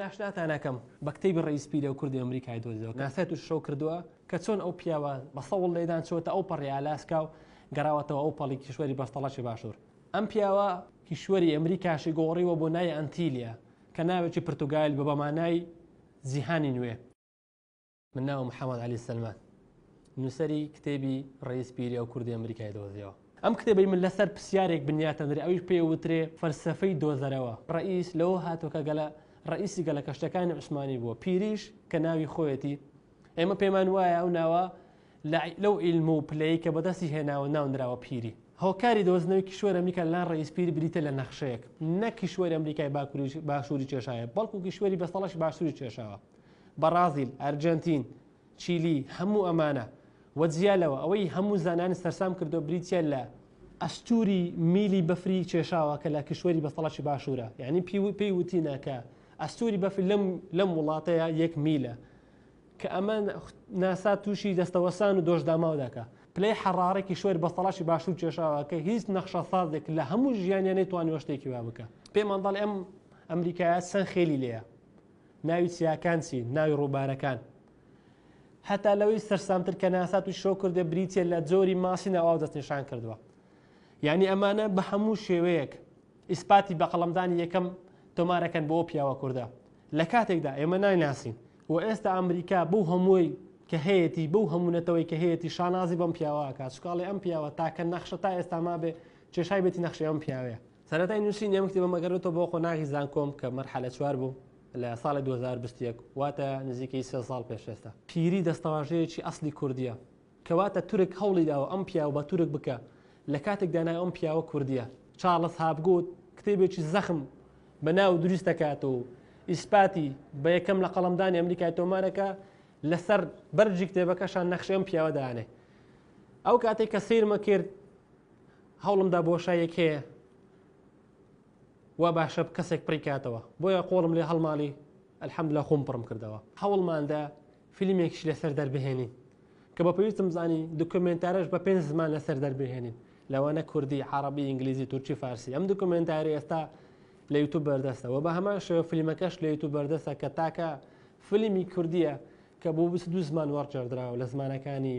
ئاشناتان ئەکەم بە کتێبی ڕێیس پیرە و کوردی ئەمریکای دۆزیەوە کە ناسای تووش شەو کردووە کە چۆن ئەو پیاوە بە سەوڵ لێدان چووەتە ئەو پەڕی ئالاسکا و گەڕاوەتەوە ئەو پەڵی کیشوەری بەستەڵەکی باشوور ئەم پیاوە کیشوەری ئەمریکاشی گۆڕیوە بۆ ناوی ئەنتیلیا کە ناوێکی پرتوگالیل بە بە مانای جیهانی نوێ. من ناوم محمد علی سلمان نووسری کتێبی ڕیز پیری ئەو کوردی ئەمریکای دۆزیەوە ئەم کتێبی من لەسەر پرسیارێک بنیاتەندرێ ئەویش پێ وترێ فەلسفەی دۆزەرەوە ڕئیس لەوە هاتۆکە گەلە ڕئیسی گەلە کەشتەکانی عوسمانی بووە پیریش کە ناوی خۆیەتی ئێمە پێمان وایە ئەو ناوە لەو ئیلم و پلەی کە بەدەستی هێناوە ناونراوە پیری هۆکاری دۆزنەوەی کیشوەر ئەمریکا لەلان ڕئیس پیری بریتە لە نەخشەیەک نە کیشوەری ئەمریکای باکووری باشووری کێشایە بەڵکو کیشوەری بەسەڵەش باشووری کێشاوە بەڕازیل، ئەرجەنتین، چیلی، هەموو ئەمانە و جیا لەوە ئەوەی هەموو زانانی سەرسام کردووە بریتییە لە ئەستووری میلی بەفری کێشاوە کە لە کیشوەری بەستەڵەکی باشوورە یانی پێی وتینە کە ئەستووری بەفر لەم وڵاتەیە یەک میلە کە ئەمە ناسا تووشی دەستەوەسان و دۆشداماو دەکە پلەی حەڕارە کیشوەر بەستەڵەکی باشوور کێشاوە کە هیچ نەخشە سازێک لە هەموو ژیانیانەی توانیوە شتێکی وا بکە پێمان دەڵێ ئەم ئەمریکایە سەن خێلی لێە ناوی چیاکان چی؟ ناوی ڕووبارەکان هەتا لەوەی سەرسامتر کە ناسات و شەو کردێ بریتە لە جۆری ماسی ناواو دەستنیشان کردووە یعنی ئەمانە بە هەموو شێوەیەک ئیسپاتی بە قەڵمدانی یەکەم تۆمارەکەن بۆ پیاوە کووردە لە کاتێکدا ئێمە نایناسین و ئێستا ئەمریکا بەو هەمووی کە هەیەی بەو هەمونەتەوەی کە هەیەی شانازی بەم پیاوەکە چکاڵی ئەم پیاوە تاکە نەخشە تا ئێستا ما بێ کێشای بێتی نەخشی ئەم پیاوەیە سەرەتای نووسینی ئەم کتێبەم ئەگەر بێتەوە بۆ قۆناغی زانکۆم کە مەرحەلە چوار بوو لە ساڵی 2021 واتە نزیکەی سێ ساڵ پێش ئێستا پیری دەستەواژەیەکی ئەسلی کوردیە کەواتە تورک هەوڵی داوە ئەم پیاوە بە تورک بکە لە کاتێکدا ناوی ئەم پیاوە کوردیە چارلز هاپگوت کتێبێکی زەخم بە ناو دروست دەکات و ئیسپاتی بە یەکەم لە قەڵەمدانی ئەمریکای تۆمارەکە لەسەر بەرجی کتێبەکەشان نەخشی ئەم پیاوە دانێ ئەو کاتێک کە سیرمە کرد هەوڵم دا بۆشاییەک هەیە وا باشە کەسێک پڕی کاتەوە بۆیە قۆڵم لێ هەڵماڵی الحەمدلە خۆم پڕم کردەوە هەوڵماندا فیلمێکش لەسەر دەربهێنین کە بە پێویستم زانی دکمنتارش بە پێنج زمان لەسەر دەربهێنین لەوانە کوردی عربی ئینگلیزی تورکی فارسی ئەم دکمنتاری ئێستا لە یوتوب بەردەستەوە بە هەمان شێوە فیلمەکەش لە یوتوب بەردەستە کە تاکە فیلمی کوردیە کە بۆ دو زمان وەڕجێردراوە لە زمانەکانی